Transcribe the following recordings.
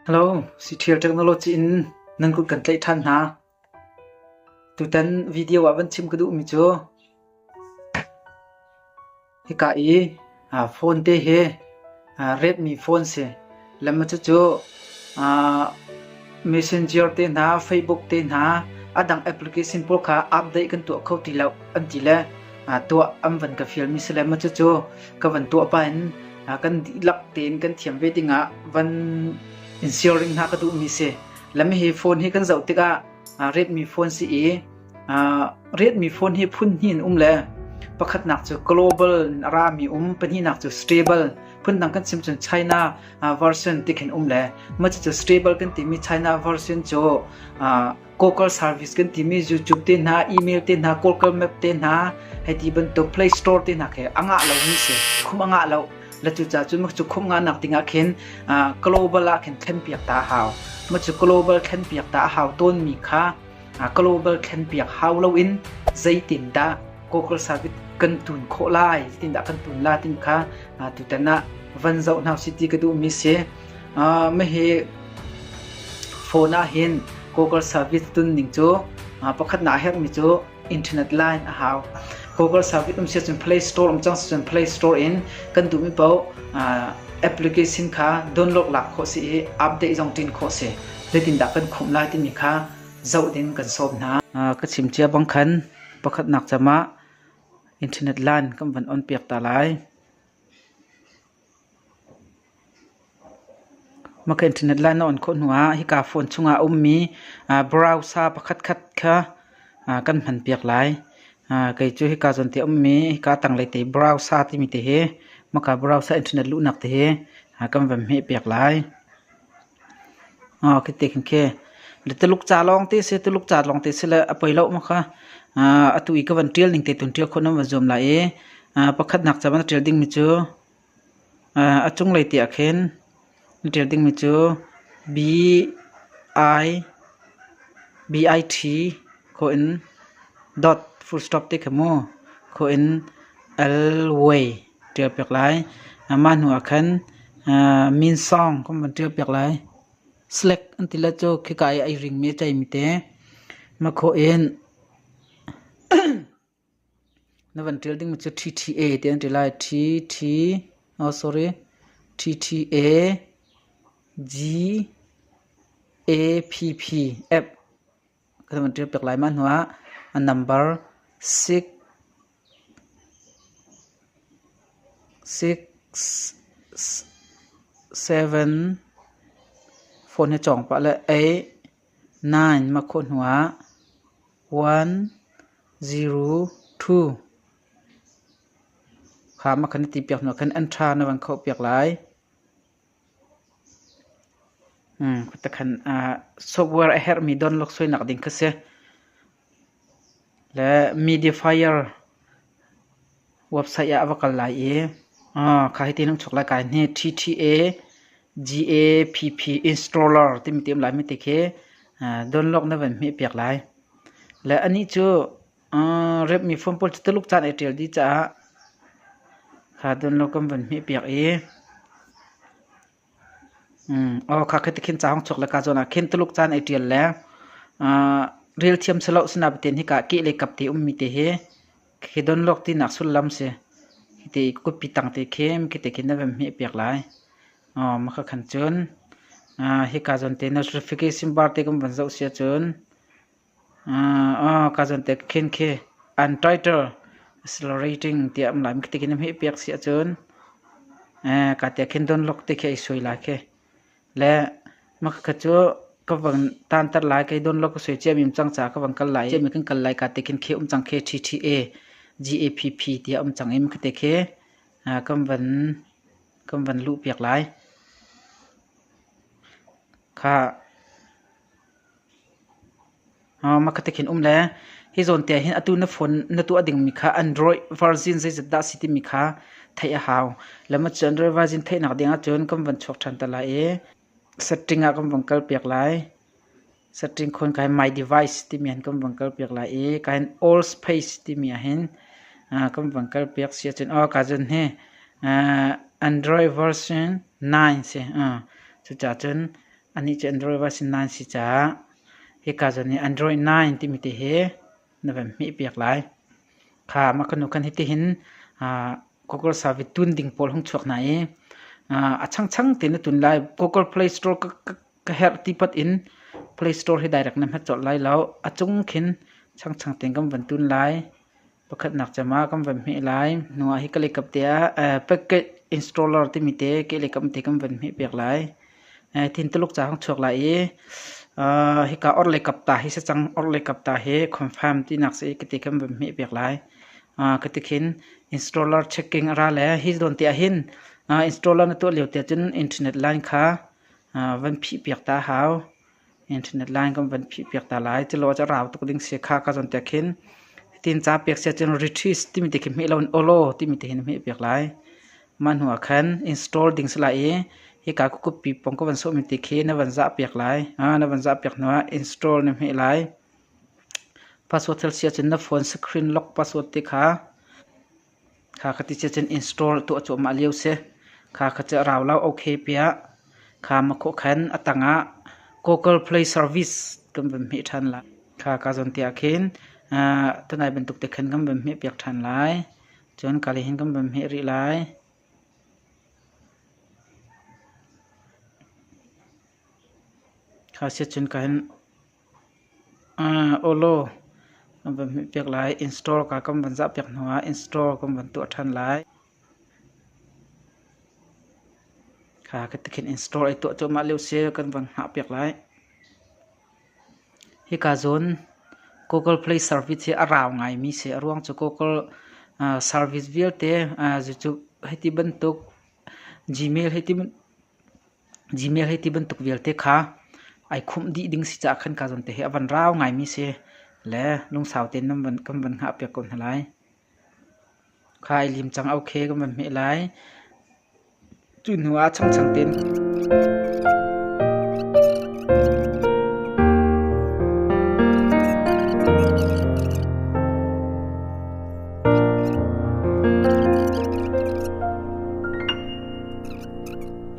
Hello, Cithial Technology in nan kut kan tlaih ṭhan hna. Tutan video ah van chim ka duhmi cu hika i uh, phone te hi uh, redmi phone si lam cu cu uh, messenger te hna facebook te hna adang application pawl kha update kan tuah kho ti lo an ti le uh, tuah am van ka feel mi si le ma cu cu ka van tuah pa in kan dihlak tein kan thiam ve dingah van in siaring hna ka duhmi si lami hi phone hi kan zoh tikah riatmi phone si i riatmi phone hi phun hnih in um le pakhatnak cu global rami um pahnihnak cu stable phundang kan sim cun China version tikhin um le macu cu stable kan timi China version cu Google service kan timi YouTube te hna, email te hna, Google Map te hna, hei ti bantuk Play Store te hna khi a ngah lomi si. Khum a ngah lo. La cu ca cun cu khum nga nak dingah khin global ah khin thlen piak ta hau. Ma cu global thlen piak ta hau tawnmi kha global thlen piak hau loin zeitin dah Google service kan tun khawh lai, tindah kan tun la tin kha tutan ah van zoh hna si ti ka duhmi si. Hihi phone ahhin Google service tunning cu pakhatnak a herhmi cu internet line a hau. Google service um siahcun Play Store um cang siahcun Play Store in kan duhmi paoh application kha download lak khawh si i update zong ṭin khawh si. Zeitindah kan khumh lai timi kha zoh ding kan sawm hna. Ka chim cia bang khan pakhatnak cam ah internet line kan van on piak ta lai. Maka internet lai na on khawh hnuah hika phone chungah a ummi browser pakhatkhat kha kan hmanpiak lai. Kei cu hika zawn te a ummi hika tanglei te browser timi te hi, Maka browser internet luhnak te hi kan van hmehpiak lai. Ka ti khikhe na Tuluk ca lawng te si, Tuluk ca lawng te si le a poi lo maw kha atu i ka van ṭial ning te tun ṭial khawh nan van zuam lai i pakhatnak ca na ṭial dingmi cu a cunglei te ahkhin na ṭial dingmi cu BIT kho in dot full stop te kha mu, kho in L-way. ṭial piak lai. Mah hnuah khan min sawng kan van ṭial piak lai. Select an ti le cu khika i ai ringmi a ceimi te hmakhawh in na van ṭial ding mi cu TTA ti an ti lai. TT oh sorry TTA G A P P app kan van ṭial piak lai mah hnuah a nambar six seven phone hi cawng pah le eight nine mahkhawh hnuah one zero two kha ma khan i ti piak hnuah khan enter na van khoh piak lai software a herhmi donlak suainak ding kha si. Le Mediafire website ah a va kal lai i kha hi ti nan chuk lai kai hni TTA GAPP installer timi ti um lai mi ti khi donlok na van hmeh piak lai. Le anih cu Rep mifuam pawl cu Tuluk caan ai ṭial dih caah kha dun lo kan vun hmihpiak i aw kha khi tikhin ca hong chuak le ka zawn ah khin Tuluk caan ai ṭial le rel thiam si lo sinapatin hika kih le kap te ummi te hi khi don lawk tinak sullam si. Khi te i kupi tang te khin khi te khin na van hmihpiak lai. Maka khan cun hika zawn te Nostrification bar te kan van zoh sia cun Kazan te khin khi untitled accelerating tiah um lai. Mi tikhin hmih piak si ahcun kate khin dunluk ti khi ei sui lai khi. Le makha cu ka vang tantar lai kai dunluk ka sui ciam im cang ca ka vang kal lai. Ciam in kan kal lai kate khin khi um cang khi TTA GAPP tiah um cang i makate khi kan van kan van luh piak lai. Kha Hi zawnte ah hin atu na phone na tuah dingmi kha Android version zeizat dah a si timi kha theih a hau. Lam ahcun Android version theihnak ding ahcun kan van chuak ṭhan te lai i setting ah kan van kalpiak lai. Setting khon ka hi My Device timi han kan van kalpiak lai i ka hin All Space timi ah hin kan van kalpiak si ahcun ka cun hi Android version 9 si. Cucacun Anih cu Android va a si nain si caah hika zawn i Android 9 timi ti hi na van hmehpiak lai. Kha mah kanu khan hitihin Google service tun ding pawl hung chuak hna i a changchang tein na tun lai. Google Play Store ka herh ti pat in Play Store hi direct na hmat colh lai lo. A cung khin changchang tein kan van tun lai. Pakhatnak cem ah kan van hmeh lai. Hnuah hi ka leikap te ah packet installer timi te ke leikap te kan van hmeh piak lai. Thin tuluk ca kan chuak lai i hika orh leikap ta hi se cang orh leikap ta hi confirm tinak si ka ti kan van hmeh piak lai. Ka ti khin installer checking a ra le hi zawn te ah hin installer na tuah lio te cun internet line kha van phih piak ta hau. Internet line kan van phihpiak ta lai. Cilo ah rau tuk ding si kha ka zawn tek hin. Hitin ca pek sia cun retreat timi te khi hmeh lo in olo timi te hin hmeh piak lai. Mah hnu ah khan install ding si lai i hika kukupi pong ka van sawh mi te khi na van zah piak lai. Na van zah piak hnu ah install na hmeh lai. Password thil sia cun na phone screen lock password te kha Kha kha ti ciacan in store tuah cuahmah lio si. Kha kha cu a rau lo ok piah. Kha makhawh khan a tangah Google Play Service kan van hmeh ṭhan lai. Kha ka zawn tiah khin tanai bantuk te khan kan van hmeh piak ṭhan lai. Cun kali hin kan van hmeh rih lai. Kha siacun ka hin Awlaw kan van hmuhpiak lai. Install ka kan van zahpiak hnu ah install kan van tuah ṭhan lai. Kha ka ti khin install ai tuah cuahmah lio si kan van hngahpiak lai. Hika zawn Google Play service hi a rau ngaimi si. A ruang cu Google service vialte, cucu hiti bantuk Gmail hei ti Gmail hi ti bantuk vialte kha ai khumh dih ding si caah khan ka zawn te hi a van rau ngaimi si le lungsau tein nan van, kan van hngah piak ko hna lai. Kha ai lim cang ok kan van hmeh lai. Cu hnu ah changchang tein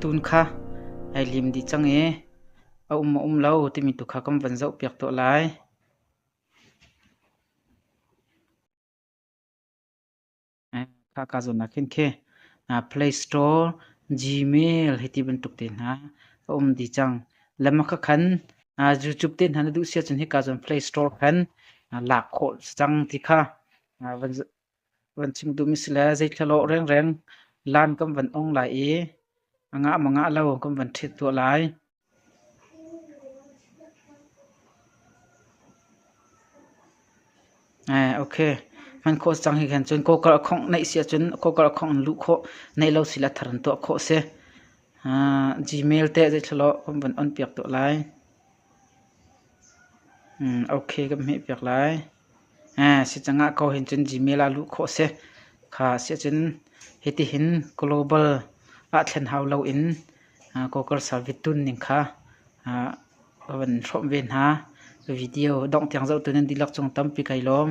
Tun kha ai lim dih cang i a um maw um lo timi tu kha kan van zohpiak tuah lai. Khaka zawnnak hin khi Play Store, Gmail hi ti bantuk te hna a um dih cang. Lamaka khan YouTube te hna na duh siah cun hika zawn Play Store khan lak khawh cang ti kha van Van chim dum a si le zeithlalaw rengreng lan kan van ong lai i a ngah mangah lo kan van ṭhit tuah lai. Okay. Hman khawh cang hi khan cun kokar a khongh neih si ahcun kokar a khongh in luh khawh neih lo si la thar in tuah khawh si. Gmail te zeithlalaw kan van on piak tuah lai. Okay kan hmeh piak lai. Si cang ah ko hin cun Gmail ah luh khawh a si. Kha a si ahcun hitihin global ah thlen hau loin Google Service tunning kha va van hrawmh ve hna. Video dongh tiang zohtu nan dihlak cung tampi kai lawm.